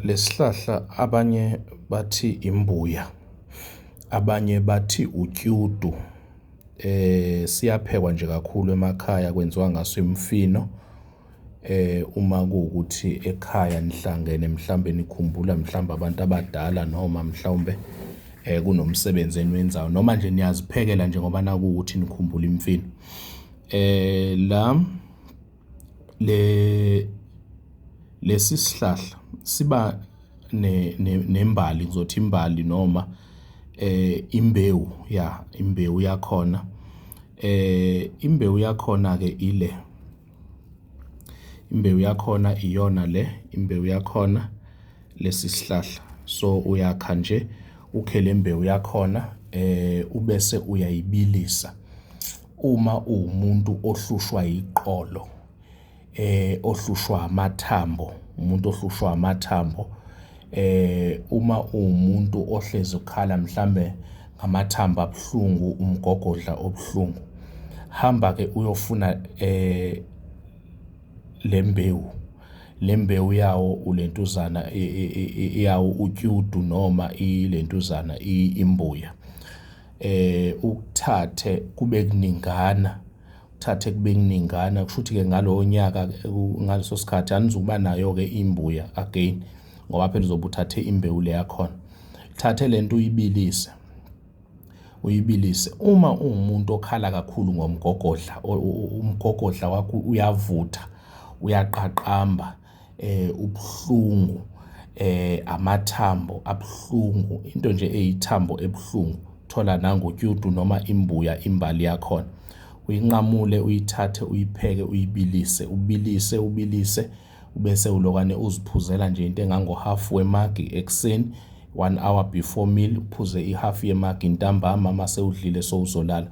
Lesi sihlahla abanye bathi imbuya, abanye bathi utyudu. Siyaphekwa nje kakhulu emakhaya kwenziwa ngaso imifino. Uma kuwukuthi ekhaya nihlangene mhlawumbe nikhumbula mhlawumbe abantu abadala noma mhlawumbe kunomsebenzi eniwenzayo noma nje niyaziphekela nje ngoba nakuwukuthi nikhumbula imifino . Lesi sihlahla siba nembali, ngizothi imbali noma imbewu, ya, imbewu yakhona. Imbewu yakhona-ke ile, imbewu yakhona iyona le, imbewu yakhona lesi sihlahla. So, uyakha nje, ukhe le mbewu yakhona ubese uyayibilisa. Uma uwumuntu ohlushwa iqolo eh ohlushwa amathambo umuntu ohlushwa amathambo eh uma uwumuntu ohlezi ukhala mhlambe ngamathambo abuhlungu umgogodla obuhlungu hamba ke uyofuna eh lembewu lembewu yawo ulentuzana iyawo utyudu noma ilentuzana imbuya eh ukuthathe kube kuningana uthathe kube kuningana kusho ukuthi-ke ngalowo nyaka ngaleso sikhathi anizukuba nayo-ke imbuya again ngoba phela uzobe uthathe imbewu le yakhona thathe le nto uyibilise uyibilise uma uwumuntu okhala kakhulu ngomgogodla umgogodla wakho uyavutha uyaqaqamba eh ubuhlungu eh amathambo abuhlungu into nje eyithambo ebuhlungu thola nangotyudu noma imbuya imbali yakhona uyinqamule uyithathe uyipheke uyibilise ubilise ubilise ubese ulokane uziphuzela nje into engangohafu wemagi ekuseni One hour before meal uphuze ihalf yemagi ntambama uma sewudlile sowuzolala.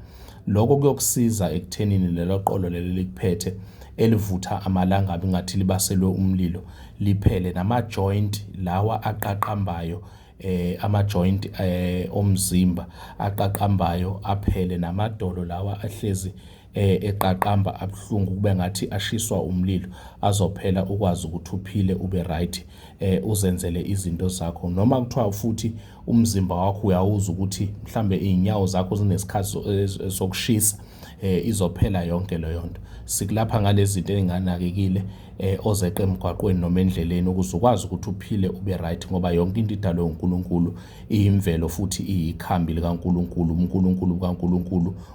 Lokho kuyokusiza ekuthenini lelo qolo leli elikuphethe elivutha amalangabi ngathi libaselwe umlilo liphele nama-joint lawa aqaqambayo eh ama-joint eh omzimba aqaqambayo aphele namadolo lawa ahlezi eh, eqaqamba abuhlungu kube ngathi ashiswa umlilo azophela ukwazi ukuthi uphile ube right eh uzenzele izinto zakho noma kuthiwa futhi umzimba wakho uyawuza ukuthi mhlambe izinyawo zakho zinesikhathi eh, sokushisa eh izophela yonke leyo nto sikulapha ngalezinto ezinganakekile eh ozeqe emgwaqweni noma endleleni ukuze ukwazi ukuthi uphile ube right ngoba yonke into idalwe uNkulunkulu iyimvelo futhi iyikhambi likaNkulunkulu uNkulunkulu kaNkulunkulu